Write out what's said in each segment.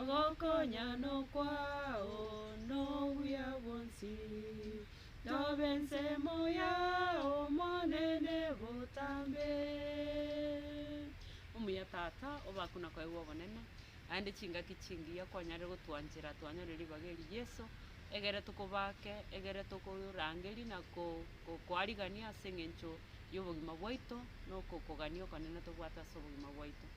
Ogokonya nokwao nobuya bwonsi, Tobe ensemo yao Omonene botambe. Omuya Tata, obakuna kwaigwa obonene, aende chingaki chingiya kwanyarire gotwanchera twanyore ribaga eri Yeso, egere tokobake, egere tokorangeri na kokoarigania ase engencho yobogima bwaito, nokokogania okonene tobwate ase obogima bwaito.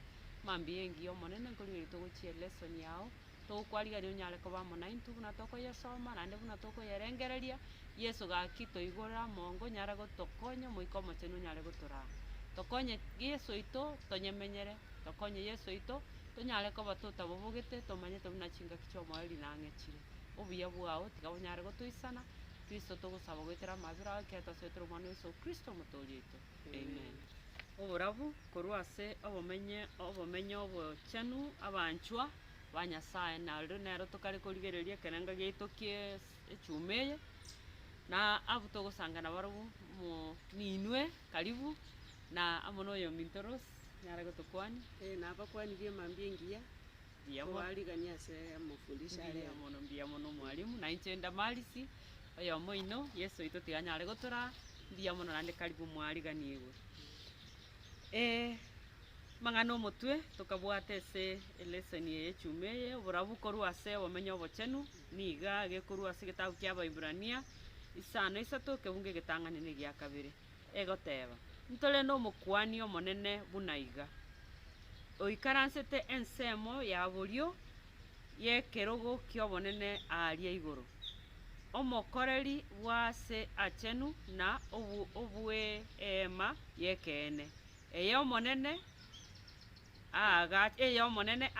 Mambia engiya Omonene, nkorigereria togochia elesson yao, togokwarigereria onyare koba amo naintwe buna tokoyesoma naende buna tokoyerengereria. Yeso gaki toigorere amonga onyare gotokonya Omoika Omochenu onyare gotoraa. Tokonye Yeso oito tonyemenyere, tokonye Yeso oito tonyare koba totabobogete, tomanyete buna chingaki chi'omoyo rinang'echire. Obuya bwao tiga bonyare gotoisana, Kristo togosaba goetera amabera ao ekero twasoetire Omwana o Yeso Kristo Omotoori oito. Amen. Oborabu korwa ase obomenye obomenye obochenu abanchwa ba Nyasaye, nario nero tokare korigereria ekerengo giaito kie echuma eye, na abwo togosanga nabarabwo mo ninwe karibu, na amo na oyominto Rose nare gotokwania. Ee, na abakwani b'emambia engiya. Kobarigania ase amafundisho a rero. Mbuya mono, mbuya mono mwalimu, na inche Damarisi, oyomo oino, Yeso oito tiganyare gotoraa, mbuya mono naende karibu mwariganigwe. Eh, amang'ana omotwe tokabwate ase eleseni eye echuma eye, oborabu korwa ase obomenyo obochenu, niga gekorwa ase egetabu kia Abaibrania, isano isato, ekebungo egetang'ani na egia kabere. egoteba, Ntore n'Omokuani omonene buna iga, oikaransete ensemo ya borio y'ekerogo ki'obonene aaria igoro, Omokoreri bw'Aase Aachenu na obw'Eema y'ekeene, ey'Omonene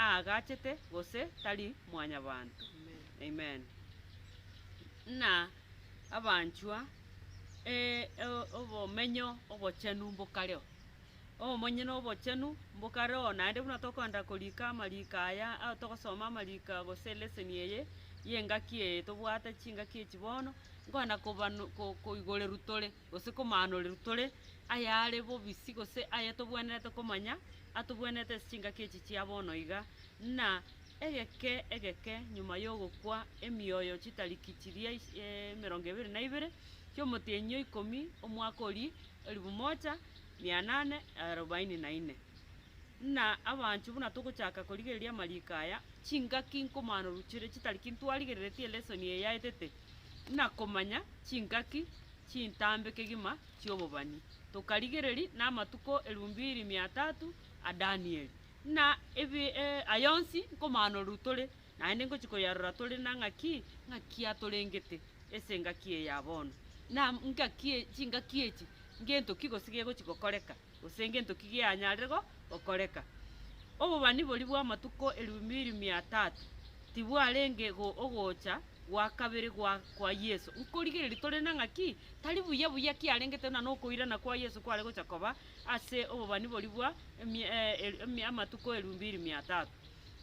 aagachete, gose tari mwanyabanto. Amen. Amen. Abanchwa, obomenyo obochenu mbokareo, obomenyo na obochenu mbokareo, naende buna tokoenda korika amariko aya, togosoma amariko aya gose elesson eye ya engaki eye tobwate chingaki echi bono, nkoenda kobanu koigoreru tore gose komaanoreru tore ayare bobisi gose ayetobwenerete komanya, atobwenerete ase chingaki echi chia bono iga, buna Egeke egeke nyuma y'ogokwa emioyo chitariki chiria emerongo ebere na ibere chi'omotienyi o ikomi omwaka oria elifu moja, mia nane, arobaini na ine. Ng'a abanchwa, buna togochaka korigereria amariko aya, chingaki nkomanoruchere chitariki ntwarigereretie elesoni eye yaetete, ng'a komanya chingaki chintambe kegima chi'obobani, tokarigereria namatuko elifu mbiri mia tatu a Danieli. Ng'a ebi aya onsi nkomaanorwe tore, naende ngochia koyarora tore na ng'aki ng'aki atorengete ase engaki eye ya bono, na ngaki e chingaki echi ngento ki gose gegochia gokoreka, gose ngento ki geanyarire go gokoreka. Obobani boria bw'amatuko eribu biiri mia tatu tibwarenge go ogocha gwa kabere gwa kwa Yeso, nkorigereria tore na ng'aki tari buya buya kiarengete buna na okoirana kwa Yeso kware gocha koba, ase obobani boria bwa emia eh emia amatuko eria mbiri mia tatu,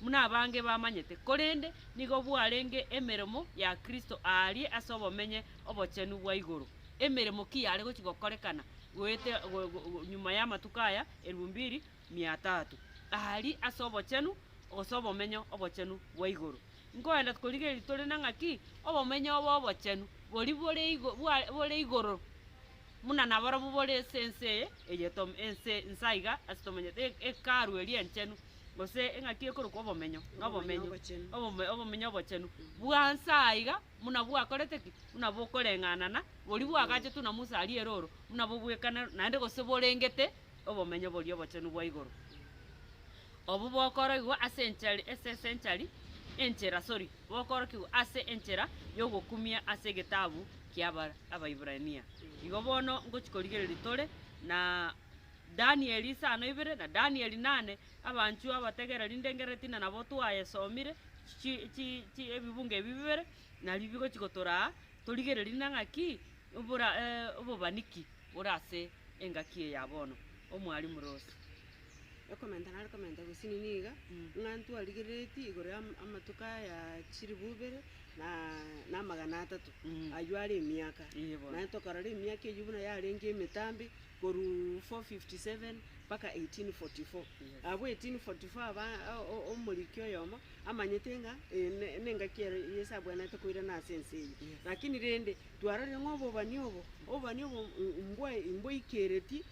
buna abange bamanyete, korende nigo bwarenge emeremo ya Kristo aaria ase obomenye obochenu bwa igoro. Emeremo ki yare gochia gokorekana goeta go go go nyuma y'amatuko aya eria mbiri mia tatu? Aaria ase obochenu gose obomenyo obochenu bwa igoro. Nkoenda korigereria tore na ng'aki obomenyo obo obochenu boria bore igo bwa bore igoro. Buna naborobwo bore ase ense eye, eye tom, ense inse aiga, ase tomanyete e- Hekalu eria enchenu, gose eng'aki ekorokwa Obomenyo, na Obomenyo obochenu. obome- Obomenyo obochenu, bwa nse aiga, buna bwakorete ki? Buna bokoreng'anana, boria bwagachetwe na Musa aria erooro, buna bobwekanero, naende gose borengete Obomenyo boria obochenu bwa igoro. Obwo bokoroigwa ase enchari esese enchari enchera, sori, bokorokigwa ase enchera y'ogokumia ase egetabu kia Abaiburania. Igo bono ngochi korigereria tore na Danieli isano ibere na Danieli nane, abanchwa abategereri inde ngereti na nabo twayesomire chi chi chi ebibungo ebi bibere nario bigochi gotoraa torigereria na ng'aki obobani ki bore ase engaki eye ya bono, Omwarimu Ross. Okomenta nare komenta gose nini iga, ng'a ntwarigereretie igoro ya amatuko aya chilifu ibere na na amagana atato, ayio are emiaka. Ee bono. Naende tokarora emiaka eyio buna yarenge emetambe, korwa 457 mpaka 1844. Yes. Abwo 1844 aba o- o- omoriki oyomo amanyete ng'a eye ne- nengaki ere Yeso abwenerete koirana ase ense eye. Yes. Lakini rende, twarorire ng'a obobani obo, obobani obo m- mbwa- mboikeretie.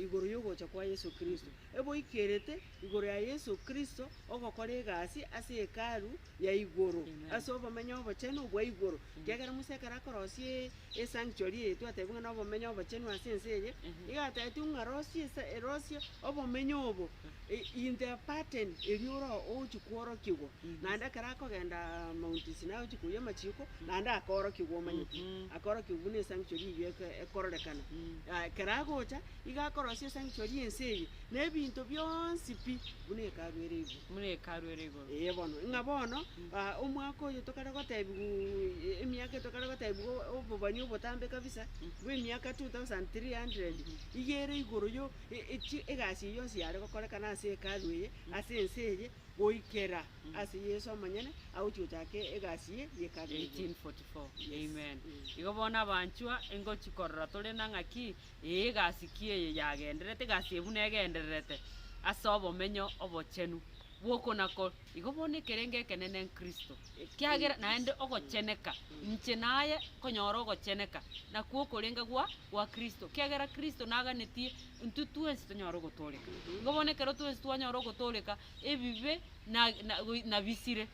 igoro y'ogocha kwa Yeso Kristo, eboikerete igoro ya Yeso Kristo ogokora egasi ase Hekalu ya igoro, ase obomenyo obochenu obwa igoro. Ekiagera Musa ekero akorosia esanctuary eye twatebie ng'a nobomenyo obochenu ase ense eye, iga atebetiwe ng'a rosia esa rosia obomenyo obo In the pattern erio ore ogochia kworokiwa, naende ekero akogenda Mount Sinai ogochia koiyia amachiiko, naende akorokiwa omanyete, akorokiwa buna esanctuary eyio eke- ekororekana. Yaya, ekero agocha, iga akorosia esanctuary ya ense eye, na ebinto bionsi pi, buna hekalu ere igoro. buna hekalu ere igoro. Ee bono, ng'a bono, ah, omwaka oyo tokare gotebiwaa emiaka eye tokare gotebiwa obobani obotambe kabisa, bw'emiaka two thousand three hundred, iga ere igoro yo. Echi egasi eye yonsi yare gokorekana ase Hekalu eye ase ense eye, goikera ase Yeso omonyene agochia gochaka egasi eye y'Hekalu eye. 1844. Amen. Igo bono abanchwa, ingochia korora tore na ng'aki, ee, egasi ki eye yagendererete? Egasi eye buna egendererete ase obomenyo obochenu bw'okonako. Igo bono ekerengo ekenene n'Kristo, ekiagera naende ogocheneka inche naye konyora ogocheneka, nakwo okorenga gwa gwa Kristo, ekiagera Kristo naganetie intwe twensi tonyare ogotooreka. Igo bono ekero twensi twanyora ogotooreka, ebibe na na goi nabisire,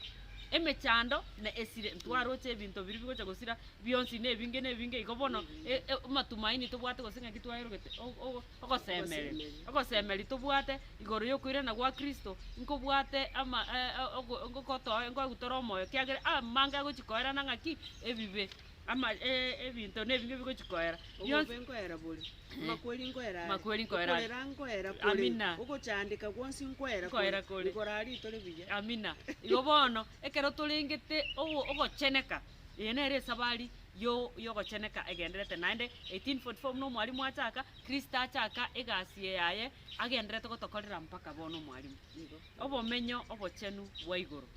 emechando na esire ntwaroche ebinto biria bigocha gosira bionsi na ebinge na ebinge igo bono e- e amatumaini tobwate gose ng'aki twaerogete o- o. Ogosemeria. Ogosemeria tobwate igoro yokoirana gwa Kristo nkobwate ama- e- e- ogo- ngokotoe nkoegwe tore omoyo kiagera amange agochia koerana ng'aki? Ebibe. Ama e- ebinto na ebinge bigochia koera. Bionsi- Obobe nkoera bore, amakweri nkoera are, Makweri nkoera are. okorera nkoera kore, Amina. ogochandeka gwonsi nkoera Nkoera kore. kore. Igoro aria tore buya. Amina. Igo bono, ekero torengete ogo- ogocheneka, Eye nere esabari y'ogocheneka egendererete naende, 1844 buna omwalimu achaka, Kristo achaka egasi yaye agendererete gotokorera mpaka bono omwalimu. Obomenyo obochenu bwa igoro.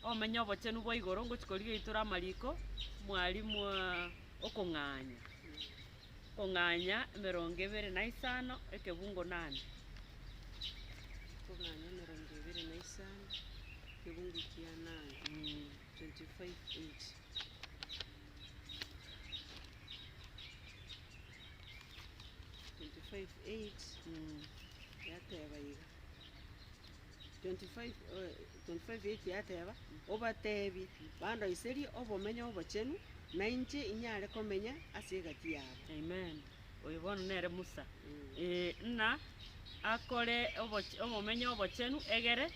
Obomenyo obochenu bwa igoro ngochi korigia itoro amariko, mwalimu okong'anya. Okong'anya emerongo ebere na isano ekebungo nane. Okong'anya emerongo ebere na isano ekebungo kia nane. 8 yateba, Obateebie, Bandoiserie obomenyo obochenu, nainche inyare komenya ase egati yabo. Oyo bono nere Musa, ee, ng'a akore oboch- obomenyo obochenu egere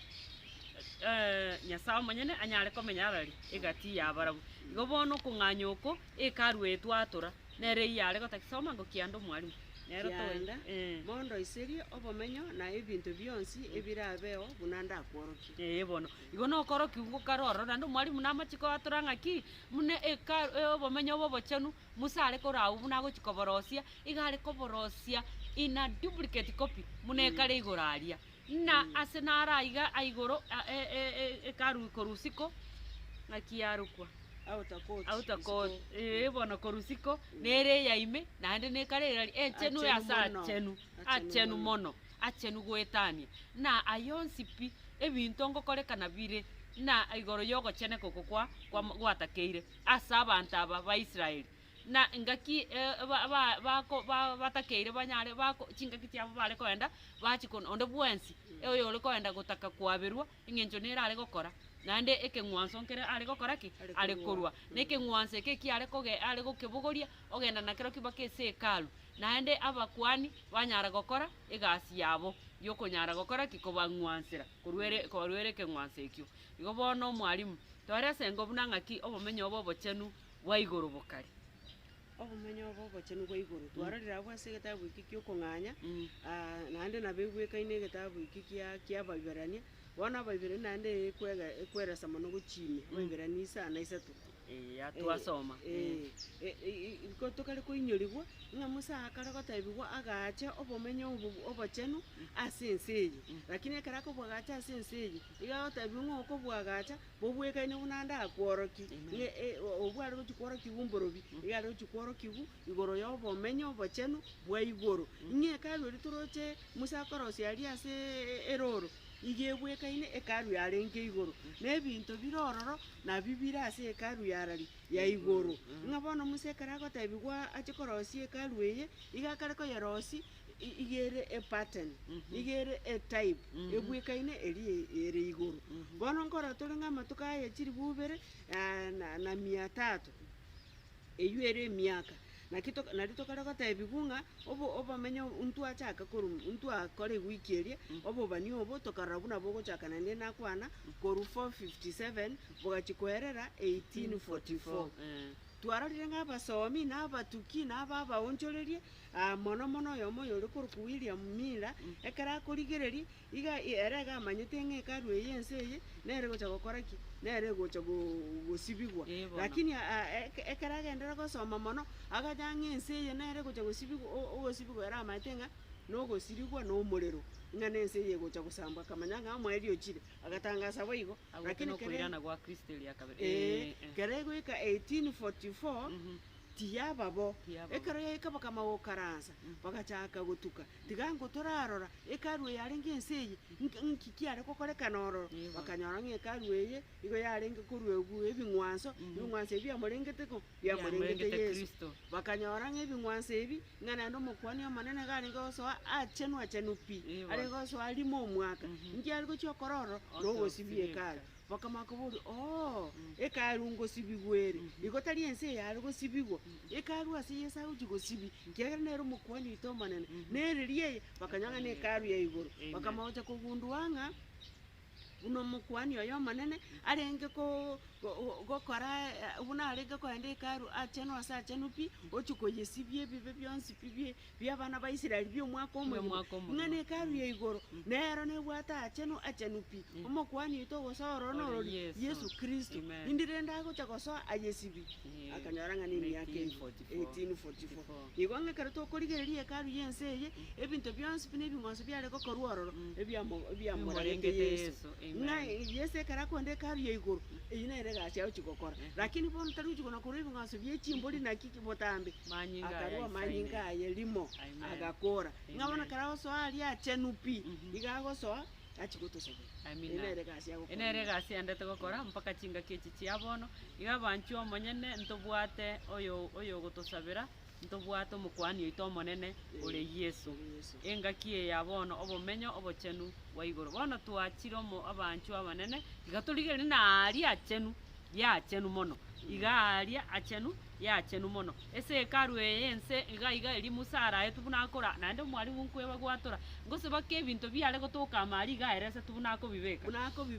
Nyasae omonyene anyare komenya arari egati y'abarabwo. Igo bono okong'anya oko Hekalu eye twatura, nere eyio are gotaki soma ngo kianda omwalimu. Nero to- Kianda, eh. mondoiserie obomenyo na ebinto bionsi ebirabeo buna ndakworokia. Ee bono, igo nokorokiwu ngokare ororo, naende omwalimu namache koatora ng'a ki, buna Hekalu obomenyo obo obochenu, Musa are korwa agwo buna agochia koborosia, iga are koborosia in a duplicate copy buna ekare igoro aria. Buna ase naro aiga aigoro a- e- e- e- ekaru korwa isiko, ng'aki yarokwa? Outer court. Outer court, isiko. eeh, bono korwa isiko, nere eya ime, naende na ekare eira eria enchenu Achenu ase mono. achenu, Achenu achenu mono. mono, achenu goetania. Buna ayio onsi pi, ebinto ngokorekana bire buna igoro ya ogocheneka oko kwa- kwam- gwatakeire. ase abanto aba ba Israeli, na engaki batakeire banyare chingaki chiabo bare koenda bache korwa onde bwensi oyore koenda gotaka koaberwa eng'encho nere are gokora naende ekeng'wanso nkere are gokora ki? Are korwa. Na ekeng'wanso eke ekio are koge are gokebogoria ogenda nakero ki? Mpaka ase Hekalu. Naende abakuani banyara gokora egasi yabo yokonyara gokora ki? Kobang'wansera korwa ere korwa ere ekeng'wanso ekio. Igo bono, Omwalimu, toorese engo buna ng'aki obomenyo obo obochenu bwa igoro bokari. Obomenyo obo obochenu bwa igoro twarorire abwo ase egetabu eke gi'okong'anya, naende nabo egwekaine egetabu eke kia ki'Abaiberania. Bono Abaiberania naende ekwega ekweresa mono gochimia Abaiberania isa na isato. Eya twasoma. Ee, ko tokare koinyorigwa ng'a Musa akare gotebigwa agaache obomenyo obo obochenu ase ense eye. Lakini ekero akobwagacha ase ense eye, Iga agotebiwa ng'a okobwagacha bobwekaine buna ande akworokie, ng'a obwo are gochia kworokigwa omborobio, iga are gochia kworokigwa igoro y'obomenyo obochenu bwa igoro. Ng'a Hekalu eria toroche Musa akorosia aria ase erooro, iga ebwekaine Hekalu yarenge igoro, na ebinto bire ororo nabio bire ase Hekalu yarari ya igoro. Ng'a bono Musa ekero agotebigwa ache korosia Hekalu eye, iga akare koyerosia, iga ere epattern, iga ere etype ebwekaine eria ere igoro. Bono nkorora tore ng'a amatuko aya chilifu ibere na na mia tatu, eyio ere emiaka, naki to nari tokare gotebiwa ng'a obo obamenyo intwe achaka koru intwe akore ewiki eria, obobani obo tokarora buna bogochaka naende nakwana, korwa four fifty seven bogachia koerera eighteen forty four. Twarorire ng'a abasomi, na abatuki, na aba abaonchorerie, aa, mono mono oyomo oyore korokwa William Miller, ekero akorigereria, iga ere iga amanyete ng'a Hekalu eye y'ense eye nere egocha gokora ki? Nere egocha go- gosibigwa. Ee, bono. Lakini a- a- eke- ekero agenderire gosoma mono, agacha ng'a ense eye nere egocha gosibigwa, o- o- ogosibigwa ere amanyete ng'a nogosirigwa na omorero, ng'a nense eye egocha gosambwa, akamanya ng'a omoerio ochire. Agatangasa boigo, Agwo lakini kere- nokoirana gwa Kristo eria kabere. Ee, Eh, eh. kere egoika 1844 Mhm. tiyaba bo. Tiyaba bo. Ekero yaika bakama gokaransa, bagachaka gotuka. Tiga nko torarora, Hekalu eye yarenge ense eye, nk- nki kiare gokorekana ororo? Nigo. Bakanyora ng'a Hekalu eye igo yarenge koruegwa ebing'wanso, ebing'wanso ebi biamorengete ng'o? Biamorengete Biamorengete Yeso. Kristo. Bakanyora ng'a ebing'wanso ebi Ng'a naende Omokuani Omonene garenge gosoa aachenwe-achenwe pi, arenge gosoa rimo omwaka, inki are gochia okore ororo na ogosibia Hekalu? Bakamanya koboria, Oo, Hekalu ngosibigwa ere, igo tari ense eye are gosibigwa. Hekalu ase Yeso agochia gosibia, ekiagera nere Omokuani oito Omonene, na ereria eye bakanyora ng'a ne Hekalu ya igoro. Bakamanya gochia kogundua ng'a. Buna Omokuani oy'Omonene arenge gokora buna arenge koenda Hekalu aachenu ase aachenu pi, ochie koyesibia ebibe bionsi pi bi'abana ba Israeli bi'omwaka omogima, ng'a ne Hekalu ya igoro nero nebwate aachenu achenu pi. Omokuani oito ogosoa ororo norori, Yeso Kristo. Indi rende agocha gosoa ayesibie, akanyora ng'a nemiaka eyio. 1844 Nigo ng'a ekero tokorigereria Hekalu y'ense eye, ebinto bionsi buna ebing'wanso biare gokorwa ororo ebiamo- ebiamoragete Yeso, ng'a Yeso ekero akoenda Hekalu ya igoro, eyio nere egasi agochia gokora. Lakini bono tari gochia kona korwa ebing'wanso bie chimbori naki ki botambe, Manyinga aya akarua aisaine. amanyinga aye rimo, Amen. agakora. Ng'a bono Amen. ekero agosoa aria achenu pi, iga agosoa achie gotosabera. Eye Amina. nere egasi ya gokora. Eye nere egasi yandete gokora mpaka chingaki echi chia bono. Iga abanchwa omonyene ntobwate oyo oyogotosabera, ntobwate omokuani oito omonene ore Ee, Yeso. ore Yeso. Engaki eye ya bono obomenyo obochenu bwa igoro. Bono twachire omo abanchwa abanene, iga torigereria na aaria achenu, ya achenu mono. Iga aaria achenu. y'Eachenu Mono. Ase Hekalu eye y'ense iga iga erio Musa araetwe buna akora, naende omwalimu nkweba gwatora, ngoseba ki ebinto biare gotoka ama aria iga aeresete buna akobibeka,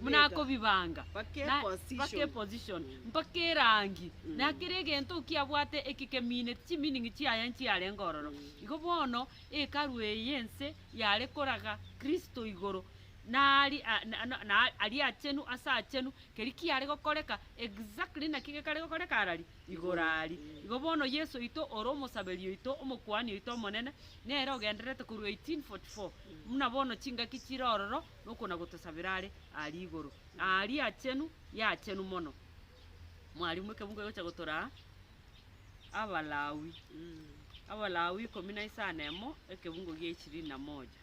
buna akobibanga, na mpaka eposition, mpaka erangi, na kera egento kiabwate eke kemineti, chimining'i chiaye nchiarenge ororo. Igo bono Hekalu eye y'ense yare koraga Kristo igoro, na ari, a- na- na- na aria achenu ase achenu, Keria kiare gokoreka, exactly naki gekare gokoreka arari? Igoro ari. Igo bono Yeso oito ore omosaberi oito, omokuani oito omonene, nere ogendererete korwa 1844, buna bono chingaki chire ororo nokona-gotosabera are aria igoro. Aria achenu, y'achenu mono. Mwarimu, ekebungo egocha gotoraa Abalawi, Abalawi ikomi na isano na emo, ekebungo gia ishirini na moja.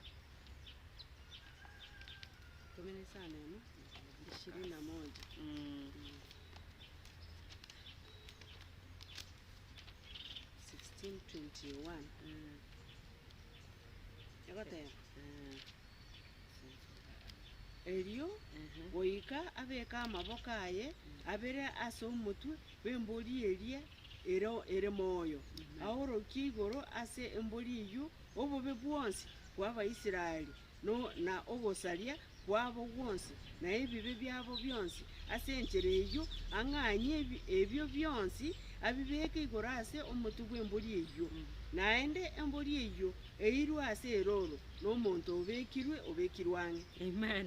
Erio goika abeke amaboko aye abere ase omotwe bw'embori eria ere moyo, aorokie igoro ase embori eyio obobe bwonsi bw'Abaisraeli. na ogosaria kwabo gwonsi, na ebibe biabo bionsi, ase enchera eyio ang'anyie ebio bionsi abibeeke igoro ase omotwe bw'embori eyio. Naende embori eyio eirwe ase erooro, na omonto obekirwe obekirwe ang'e. Amen.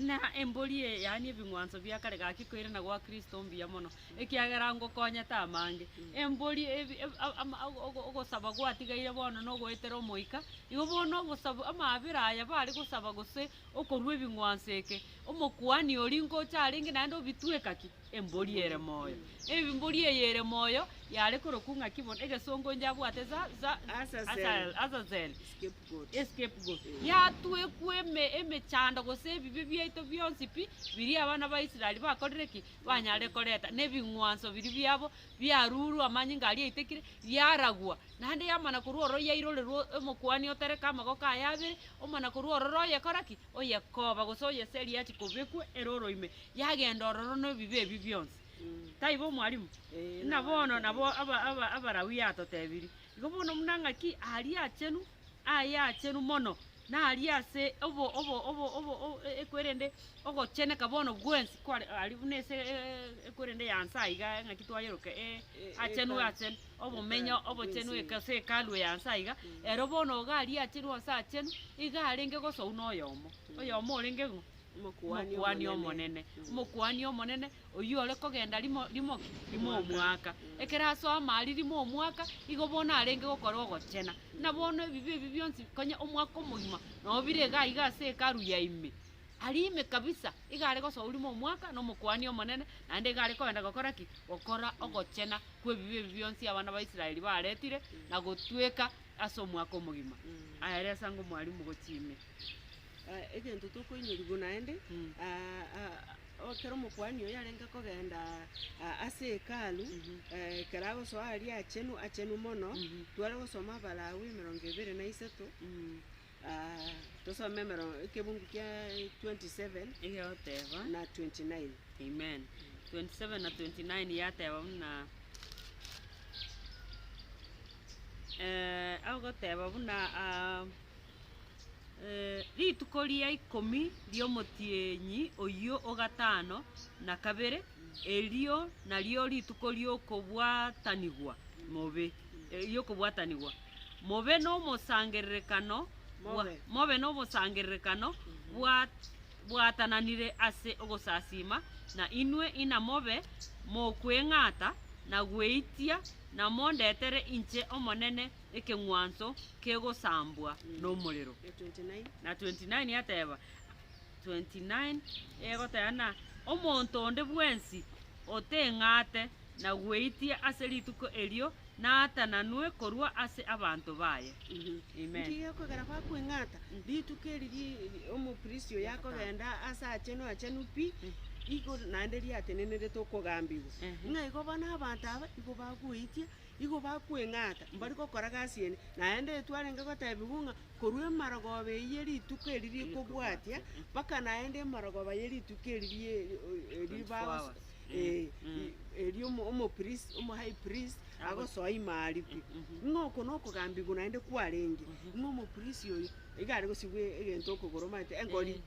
Na embori eye, yaani ebing'wanso bia kare gaki koirana gwa Kristo mbuya mono, ekiagera ngokonyete amange. Embori ebi- eb- a- ama- a- ogo- ogosaba gwatigaire bono nogoetera Omoika, igo bono obosabu amaabera aya bare gosaba gose okorua ebing'wanso eke, Omokuani oria nkoche arenge naende obitweka ki? Embori ere moyo. Embori eye ere moyo yare korokwa ng'aki bono, egesongo inche abwate Za- Za- Azazel. Asael, Azazel, Scapegoat. escapegoat yatwekwa eme- emechando gose ebibe biaito bionsi pi biria abana ba Israel bakorire ki? banyare koreta nebing'wanso biria biabo biarurwe amanyinga aria aitekire, yaragwa, naende yamana korwa ororo yairorerwa omokuani otereke amagoko aye abere, omana korwa ororo oyekora ki? Oyekoba gose oyeseria achia kobekwa ere ore ime, yagenda ororo na ebibe ebio bionsi. Taibo mwarimu? Buna bono nabo aba- aba- Abalawii atotebirie. Igo bono buna ng'aki aria achenu. ayacheru mono, na aria ase obo- obo- obo- obo- o- e- ekwerende ogocheneka bono bwensi kware aria buna ase e- e- ekwerende ya nsa iga ng'aki twayeroka e- achenu achenu, obomenyo obochenu eka ase hekalu ya nsa iga, ero bono iga aria acheru onsi achenu, iga arenge gose oyio na oyomo, oyomo orenge ng'o? Omokuani Omonene, Omokuani Omonene, oyio ore kogenda rimo, rimo ki? Rimo omwaka. Ekero asoa amaaria rimo omwaka, igo bono arenge gokora ogochena. Buna bono ebibe ebi bionsi, konya omwaka omogima, nabo bire iga iga ase Hekalu ya ime. Aria ime kabisa, iga are gosoa rimo omwaka na Omokuani Omonene, naende iga are kogenda gokora ki? Gokora ogochena kw'ebibe ebi bionsi abana ba Israeli baretire, na gotweka ase omwaka omogima. Aya are ase ango Mwalimu gochia ime. egento tokoinyoriwu naende, ekero omokuani oyo arenge kogenda ase Hekalu, ekero agosoa aria achenu achenu mono, tware gosoma Abalawi emerongo ebere na isato, tosome emero- ekebungu kia 27 Egegoteba, na 29. Amen. 27 na 29 yateba buna, agoteba buna. Rituko ria ikomi ri'omotienyi oyio o gatano na kabere, erio nario rituko ri'okobwatanigwa mobe, eh, ri'okobwatanigwa mobe nomosangererekano bwa- Mobe. mobe nomosangererekano bwa- bwatananire ase ogosasiima, na inwe inamobe mokweng'ata na gweitia, namondetere inche Omonene ekeng'wanso kegosambwa nomorero. Na 29 ateba, 29 egoteba na omonto onde bwensi oteng'ate na gweitia ase rituko erio naatananwe korwa ase abanto baye. Amen. Inki gekogera bakweng'ata? Rituko eri ri omoprisi oyo akogenda ase achenu achenu pi, igoro naende riatenenerete okogambigwa. Ng'a igo bono abanto aba igo bagoitia Igo bakweng'ata mbari gokora gasi ende, naende Yeso arenge gotebigwa ng'a korwa emarogooba eyio ye rituko eri rikobwatia, mpaka naende emarogooba ye rituko eri rie bagosoa, eh, erio omo- omopristi, omohigh priest agosoa ime arikwe. Ng'a oko nokogambigwa naende kwarenge, ng'a omopristi oyo iga aregosibwa egento okogoro omanyete, engori,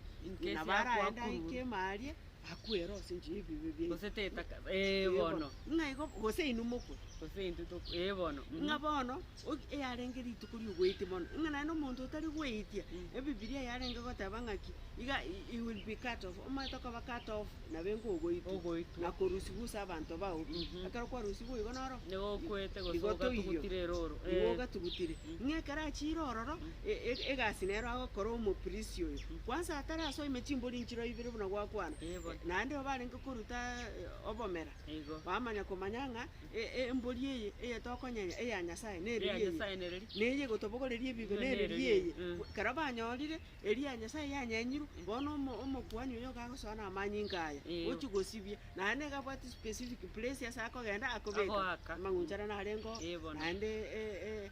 nabo araende aike ime aria. akwere ase enchera y'ebibe biaito. Gose tetaka, ee bono. Ng'a igo, gose inwe mokwe. Gose intwe tokwe, ee bono. Ng'a bono, ogi- eyarenge rituko ri'ogoitia bono, ng'a naende omonto otari goitia, Ebibilia yarenge goteba ng'aki, iga i- he will be cut off, omanyete okoba cut off, nabenka ogoitwa. Ogoitwa. Na korusigwa ase abanto bao pi. Ekero kwarusigwa igo noro. Nigo okwete gose igo toiyo. ogatugutire ere oro, Igo ee. ogatugutire. Ng'a ekero achire ororo. egasi nero agokora omoprisi oyo, kwansa atarasoa ime chimbori nchiro ibere buna gwakwana, naende nigo barenge koruta obomera, bamanya komanya ng'a embori eye eye tokonyenya eya Nyasae nere ri'eye, na eye egotobogoreria ebibe nere ri'eye. Ekero banyorire eri ya Nyasae yanyenyirwe, bono omokuani oyo nigo agosoa na amanyinga aya, ochie gosibia, naende nigo abwate specific place ase akogenda akobeka, amagunchare narengeo naende.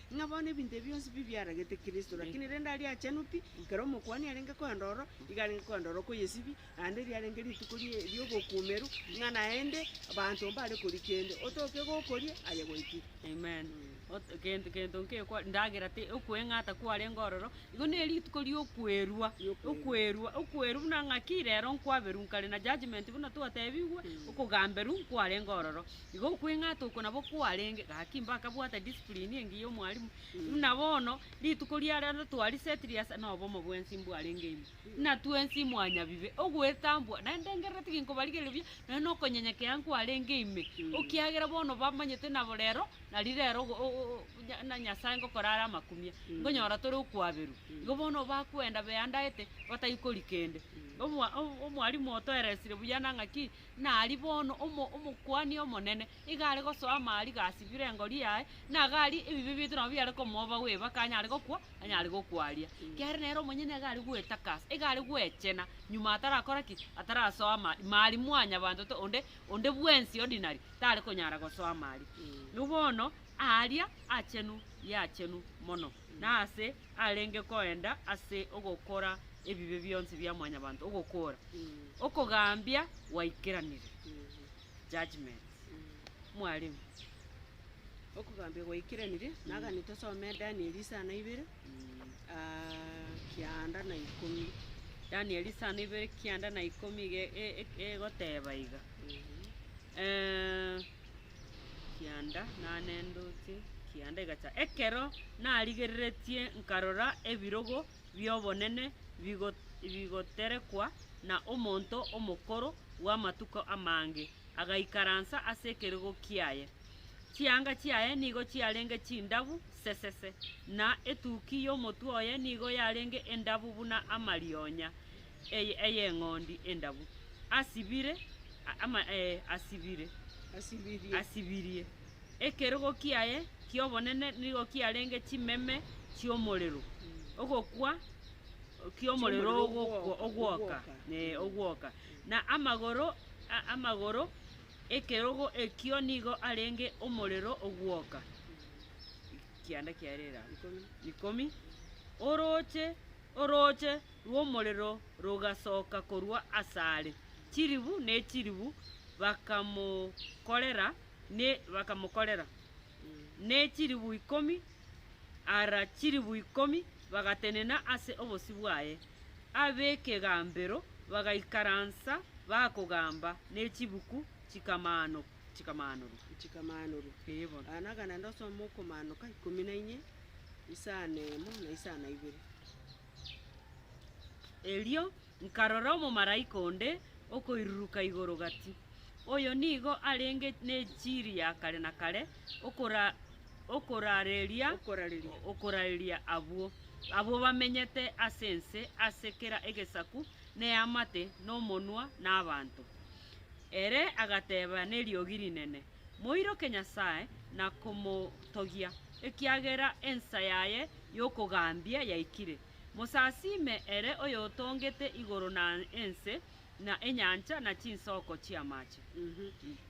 Ng'a bono ebinto ebi bionsi mbi biaragete Kristo, lakini rende aria achenu pi, ekero Omokuani arenge koenda ororo, igo arenge koenda ororo kw'eyesibia, naende riarenge rituko rie- ri'obokuumeru, ng'a naende abanto mbare koria kende, otoke gokoria, aye goikire. Amen. Ot- gento gento nkekwa ndagera te okweng'ata kwarenge ororo, igo ne rituko ri'okwerua, Ri'okwerua. okwerua, okwerwa buna ng'aki rero nkwaberwa nkare na judgement buna twatebigwe, okogamberwa nkwarenge ororo. Igo okweng'ata oko nabo kwarenge, gaki mbakabwata discipline engiya y'omwalimu, buna bono, rituko ria rero twariset ria ase nobomo bwensi mbwarenge ime, buna twensi mwanyabibe, ogwetambwa, naentengerera tiginkobarigeria buya, nonya nokonyenyekea nkwarenge ime, okiagera bono bamanyete nabo rero, nari rero ogo o- o- o nya na Nyasae ngokora are amakumia, nkonyora tore okwaberwa. Igo bono bakwenda beandaete, batari kori kende. Omwa o- o omwalimu otoeresire buya na ng'aki, Na aria bono omo, Omokuani Omonene iga are gosoa amaariga asibire engori yaye, na iga aria ebibe biaito nabo biare komooba bweba aka anyare gokwa, anyare gokwaria. Kiagera nere omonyene nigo are gwetakasa, iga are gwechena, nyuma atarakora ki? Atarasoa amaari, maari mwanyabanto to, onde, onde bwensi ordinary tare konyara gosoa amaari. Bono aaria achenu y'achenu mono. na aase arenge koenda ase ogokora ebibe bionsi bia Mwanyabanto ogokora, okogambia gwaikeranire, judgment. Mwalimu. Okogambia gwaikeranire, nagane tosome Danieli isano ibere, kianda na ikomi. Danieli isano ibere kianda na ikomi iga e- e- egoteba iga, kianda nanendoche kianda egacha. Ekero narigereretie nkarora ebirogo bi'obonene bigo- bigoterekwa na omonto omokoro bw'amatuko amange, agaikaransa ase ekerogo kiaye. Chianga chiaye nigo chiarenge chindabu sesese, na etuki y'omotwe oye nigo yarenge endabu buna amarionya. eye ey'eng'ondi endabu, asibire, a- ama, ee, asibire, Asibirie. asibirie. Ekerogo kiaye ki'obonene nigo kiarenge chimeme chi'omorero, ogokwa ki'omorero Ki'omorero ogokwa- ogwoka- ogwoka, ogwoka. ee, ogwoka. Na amagoro, a- amagoro ekerogo ekio nigo arenge omorero ogwoka. Kianda kiaye rerabe. Ikomi. Ikomi. Orooche, orooche rw'omorero rogasoka korwa asare, chilibu ne chilibu bakamokorera, ne bakamokorera, ne chilibu ikomi ara chilibu ikomi bagatenena ase obosio bwaye. Ab'ekegambero bagaikaransa bakogamba, ne chibuku chikamano chikamaanorwa. Chikamaanorwa. Ee bono. Aya nagana naende osome okomaanoka ikomi na inye, isano emo, na isano na ibere. Erio nkarora omomalaika onde okoiruruka igoro gati. Oyo nigo arenge nechiri ya kare na kare okorareria abwo bamenyete ase ense ase kera egesaku na eamate, na omonwa, na abanto. Ere agateba neriogi rinene, moiroke Nyasae na komotogia, ekiagera ensa yaye y'okogambia yaikire. Mosasiime ere oyotongete igoro na ense, na enyancha, na chinsoko chi'amache.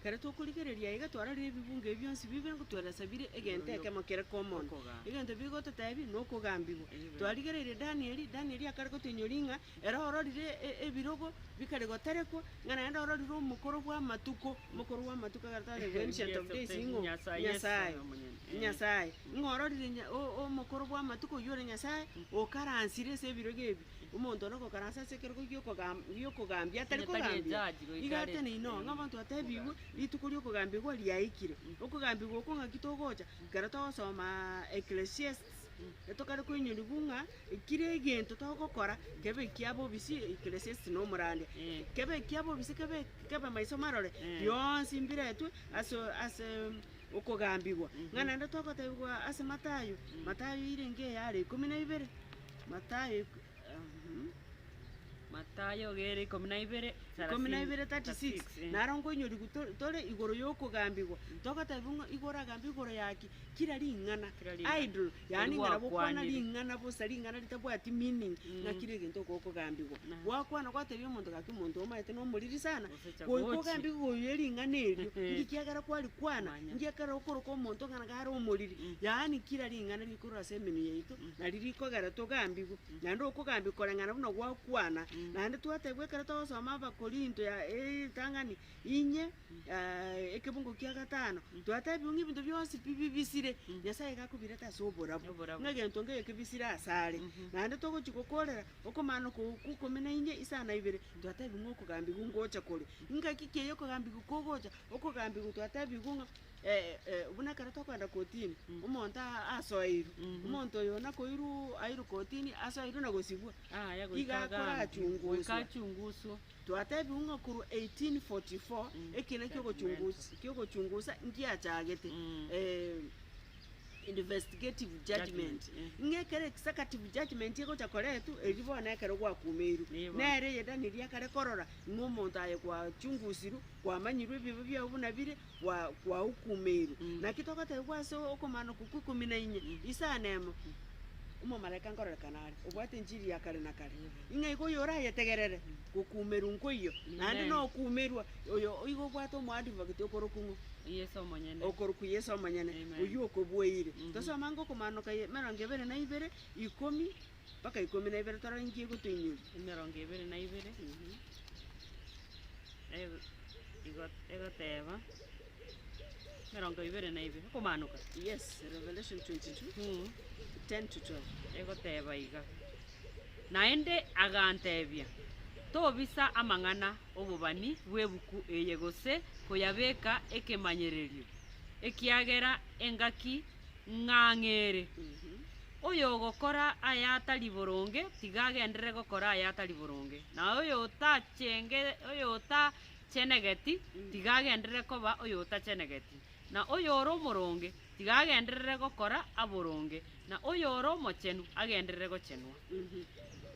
Ekero tokorigereria aiga, twarorire ebibungo ebi bionsi bibe ngotweresa bire egento ekemo kere komono. Egento bigototeebia nokogambigwa. Twarigereire Danieli, Danieli akare gotoinyoria ng'a Ere ororire ebirogo bikare goterekwa, ng'a naende ororire omokoro bw'amatuko, omokoro bw'amatuko agareta one the ancient of days, ing'o? Nyasae Yeso Nyasae, oyo omonyene. Eh. Nyasae. Ng'a ororire nya- o- o- omokoro bw'amatuko oyio ore Nyasae, okaransire ase ebirogo ebi. Omonto one ogokaransa ase ekerogo gi'okogam- gi'okogambia atari Onye tari kogambia. ejaji goika Iga are- tene inoo, ng'a omonto atebigwe, rituko ri'okogambigwa riaikire. Okogambigwa oko ng'aki togocha, ekero togosoma Ecclesiastes, Na tokare koinyorigwa ng'a kera egento togokora kebe ekia bobisi, ekeresesiti na omorandia, kebe ekia bobisi, kebe kebe maiso marore, bionsi mbiretwe ase ase okogambigwa. Ng'a naende togotebigwa ase Mathayo, Mathayo erenge eyare ikomi na ibere, Mathayo. Mathayo egere ikomi na ibere, Ikomi na ibere, thelathini, 36 36, eh. naro nkoinyorigwa to- tore igoro y'okogambigwa togotebiwa ng'a igo oragambe igoro ya ki kera ring'ana Kera ring'ana. idol yaani ng'a nabo okwana Korigwakwanire. ring'ana bosa ring'ana ritabwati meaning ng'a kera egento igo okogambigwa Aha. gwakwana gwatebi omonto gaki omonto oyo omanyete nomoriri sana Goika ogambie igoro ye ring'ana erio, inki kiagera kwarikwana? Inki ekerore okoroka omonto ng'a nagare omoriri? Yaani kira ring'ana rikorwa ase emenwa yaito, nari rikogera togambigwe, naende okogambia koreng'ana buna gwakwana. Naende twatebiwa ekero togosoma Abakorinto ya eritang'ani inye ekebungo kia gatano, twatebiwa ng'a ebinto bionsi pi bibisire, Nyasaye iga akobirete ase oborabu, ng'a egento nkeyo kebisire asare. Naende togochi gokorera Okomana oko gw'ikomi na ime isano na ibere twatebiwa ng'a okogambigwa ngocha kore. Ingaki ki ey'okogambigwa kogocha? Okogambigwa twatebiwa ng'a buna ekero tokoenda kotini, omonto asoeirwe, omonto oyo nakoirwa airwe kotini asoeirwe na gosibwa, iga akorachunguswa. Twatebiwa ng'a korwa eighteen forty four ekina ki'ogochungusa ngiachagete. investigative judgement, Judgement, eh. ng'a ekero executive judgement egocha koretwa, erio bono ekero gwakumeiru, Nigo. nere eye Daniel akare korora ng'a omonto aye gwachungusirwe, kwamanyirwe ebibe biao buna bire, gwa gwahukumeiru. Mm. Naki togotebiwa ase okomana okwo kwa ikomi na inye, isano emo, omomalaika nkorerekana are, obwate enchiri ya kare na kare, Nigo. ng'a iga oyorayetegerere, gokumerwa nkoiyo, naende Amen. nokumerwa Oyo oigo obwate omoadvocate okorokwa ng'o? Yeso omonyene. Okorokwa Yeso omonyene, Amen. oyio okobueire. Mhm. Tosome ango Okomaanoka ye- emerongo ebere na ibere, ikomi mpaka ikomi na ibere, torore inki egotoinyoria. Emerongo ebere na ibere, Mhm. ego- igo- egoteba, emerongo ebere na ibere, Okomaanoka. Yes, Revelation 22, Mm. 10 to 12. egoteba iga naende agantebia tobisa amang'ana obobani bw'ebuku eye gose koyabeka ekemanyererio, ekiagera engaki ng'ang'e ere. Oyogokora ayatari boronge tiga agenderere gokora ayatari boronge, na oyotachenge oyotachenegeti tiga agenderere koba oyotachenegeti. Na oyore omoronge tiga agenderere gokora aboronge, na oyore omochenu agenderere gochenwa.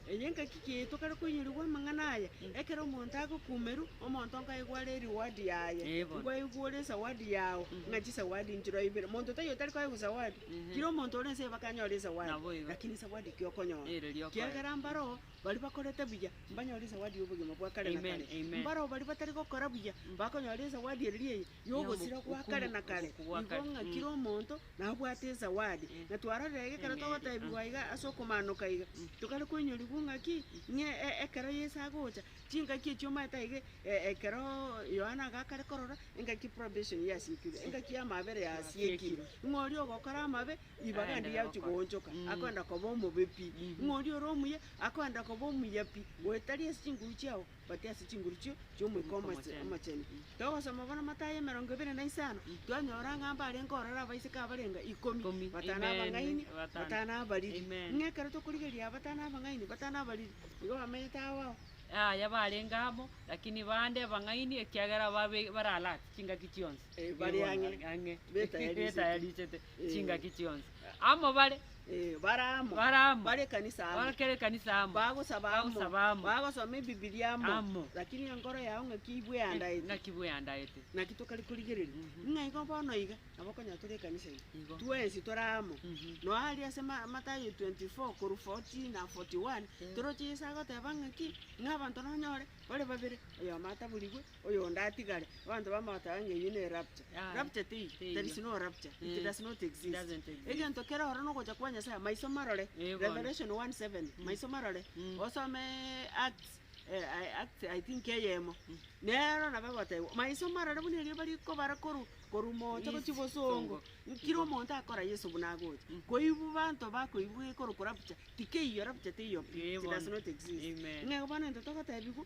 Eye engaki ki yaito kare koinyorigwa amang'ana aya? Ekero omonto agokumerwa, omonto nkaigwa are ereward yaye. Ebo. Nkoigwa ore esawadi yao, ng'a chisawadi nchiro ibere. Monto taiyo otari koegwa esawadi. Kera omonto ore ense eye baka anyore esawadi. Nabo igo. Lakini esawadi ki okonyora? Ere riokoegwa. Kiagera mbaroo bari bakorete buya, mbanyore esawadi y'obogima bwa kare na Amen, kare. amen. Mbaroo bari batari gokora buya, bakonyora esawadi ere riaye. yogosira gwa kare na kare, nigo ng'a kera omonto nabwate esawadi. Na twarorire ekero togoteebigwa iga ase okomanoka iga, tokare koinyorigwa ng'a ki? Ng'a ekero Yeso agocha, chingaki echio omanyete aige ekero Yohana iga akare korora, engaki probation yasiekirwe, engaki y'amabera yasiekirwe, ng'a oria ogokora amabe, ribaga ande riachia koonchoka, akoenda koba omobe pi. Ng'a oria ore omuya, akoenda koba omuya pi, goetari ase chinguru chiabo, Batia ase chinguruchi chi'Omoika Omochenu. Togosoma bono Mathayo emerongo ebere na isano, twanyora ng'a mbarenge ororo abaiseke abarenga ikomi, batano abang'aini, batano abariri. Ng'a ekero tokorigereria aba batano abang'aini, batano abariri, nigo bamenyete agwo ao. Yaya barenge amo, lakini bande abang'aini ekiagera baralate chingaki chionsi. Bari ang'e, betayarichete. chingaki chionsi, amo bare, Eh, bare amo. Bare amo. Bare ekanisa amo. Barakera ekanisa amo. Bagosaba amo. Bagosaba amo. Bagosoma ebibilia amo. Amo. Lakini enkoro yao ng'aki ibweandaete. Ng'aki bweandaete. Naki tokare korigereria. Mhm. Ng'a igo bono iga, nabo okonyora tore ekanisa ime. Igo. Twensi tore amo. Mhm. Noa aria ase Ma- Matayo 24 korwa 40 na 41, Eh. toroche Yeso agoteba ng'aki, ng'a abanto nonyore, bare babere, oyomo ataborigwe, Oyonde atigare, abanto bamogotaga ng'a eyio ne rapture. Rapture teiyo, there is no rapture, it does not exist. Egento kere oro nogocha kwa Nyasaye, maiso marore, Revelation one seven, maiso marore, osome Acts Acts I think eyemo, nero nabo egotebwa, maiso marore buna erio bari kobara korwa korwa moocha gochia bosongo, kera omonto akora Yeso buna agocha. Koibu abanto bakoibu gekorokwa rapture, tikeiyo, rapture teiyo pi, it does not exist. Ng'ego bono egento togotebiwa.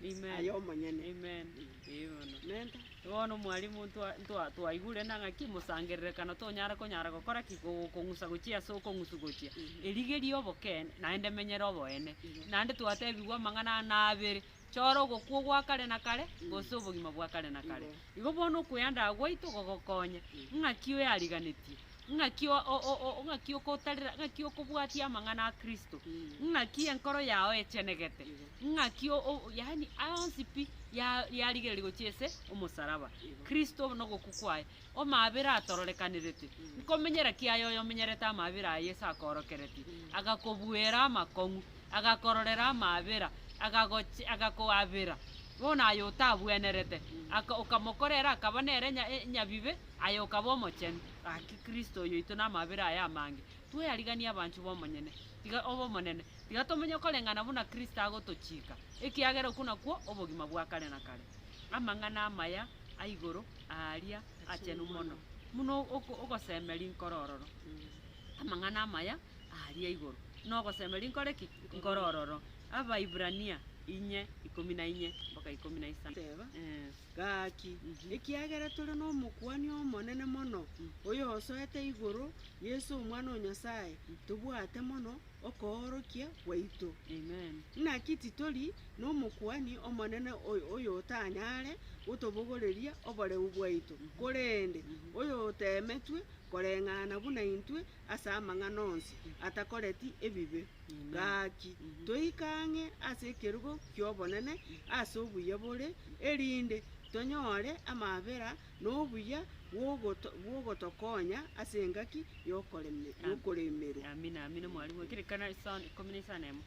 Amen. aye omonyene. Amen. Ee bono. Menta. Bono mwalimu ntwa- ntwa- twaigure na ng'aki mosangererekano tonyare konyara gokora ki Ko- kong'usa gochia ase okong'usu gochia erigeria obokene naende emenyere oboene naende twatebigwa amang'ana aya nabere chora ogokwa ogwa kare na kare gose obogima bwa kare na kare Igo. igo bono okoyandaga gwaito gogokonya ng'aki oyariganetie Ng'aki ng'aki okotarera, ng'aki okobwatia amang'ana a Kristo, ng'aki enkoro yao echenegete, ng'aki yaani onsi pi yarigereria gochia ase omosaraba, Kristo na ogokwa kwaye, omabera atororekanerete. Nkomenyera ki aye oyomenyerete amabera a Yeso akoorokeretie? Agakobuera amakong'u, agakororera amabera, agagochi agakoabera bono aye otabwenerete, aka okamokorera akaba nere nyabibe, Aye okaba omochenu, gaki Kristo oyoito namabera aye amange, tweyariganie abanchwa b'omonyene, tiga b'Omonene, tiga tomenye koreng'ana buna Kristo agotochika, ekiagera okwo nakwo obogima bwa kare na kare. Amang'ana amaya aigoro aaria achenu mono, buna ogoseme rinkoro ororo. Amang'ana amaya aaria aigoro, buna ogoseme rinkoro ki? Nkoro ororo. Abaibrania inye, ikomi na inye, mpaka ikomi na isano. Gaki, ekiagera tore n'Omokuani Omonene mono, oyosoete igoro, Yeso Omwana o Nyasae, tobwate mono okoorokia gwaito. Naki titori n'Omokuani Omonene oyotanyare gotobogoreria oboreu bwaito, korende oyoteemetwe koreng'ana buna intwe ase amang'ana onsi atakoreti ebibe. Gaki, toike ang'e ase ekerogo ki'obonene ase obuya bore, erinde tonyore amaabera na obuya bw'ogoto- bw'ogotokonya ase engaki y'okoreme- y'okoremerwa. Amina, amina, mwarimu. Ekerekano ekesoa- ikomi na isano na emo.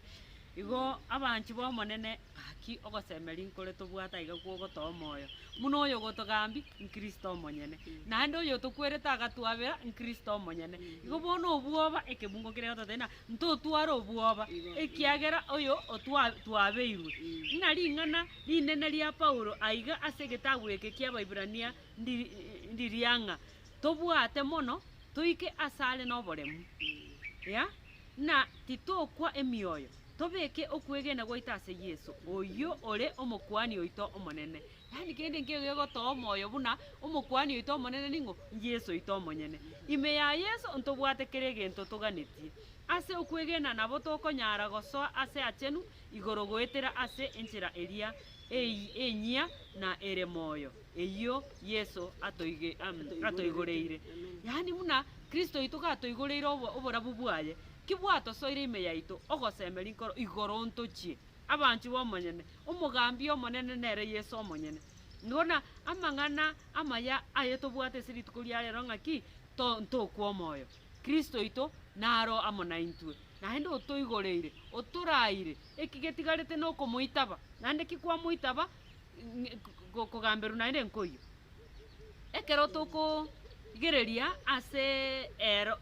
Igo abanchwa b'Omonene, Gaki ogosemeria nkore tobwate aiga kw'ogotoa omoyo, buna oyogotogambia, n'Kristo omonyene, naende oyotokwerete agatwabera, n'Kristo omonyene. Igo bono obwoba, ekebungo keria gototari na ntotware obwoba, ekiagera oyo otwa twabeirwe. Ng'a ring'ana rinene ria Paulo aiga ase egetabu eke ki'Abaibrania ndi ndiria ng'a tobwate mono toike asare noboremu, ya, na titokwa emioyo. Tobeke okwegena gwaito ase Yeso, oyio ore Omokuani oito omonene. Yaani kende nkegegotoa omoyo buna Omokuani oito omonene ning'o? N'Yeso oito omonyene. Ime ya Yeso ntobwate kera egento toganetie. Ase okwegena nabo tokonyara gosoa ase achenu igoro goetera ase enchera eria enyia na ere moyo eyio Yeso atoigoreire. Yaani buna Kristo oito gatoigoreire oborabu bwaye, Ki bwatosoire ime yaito ogosemeria nkoro igoro ntochie, abanchwa b'omonyene, omogambi y'Omonene nere Yeso omonyene? Buna amang'ana amaya aye tobwate ase rituko ria rero ng'a ki ntokwa omoyo, Kristo oito naro amo naintwe, naende otoigoreire, otoraeire, eki getigarete nokomoitaba, naende ki kwamoitaba, kogamberwa naende nkoyio. Ekero tokorigereria ase eero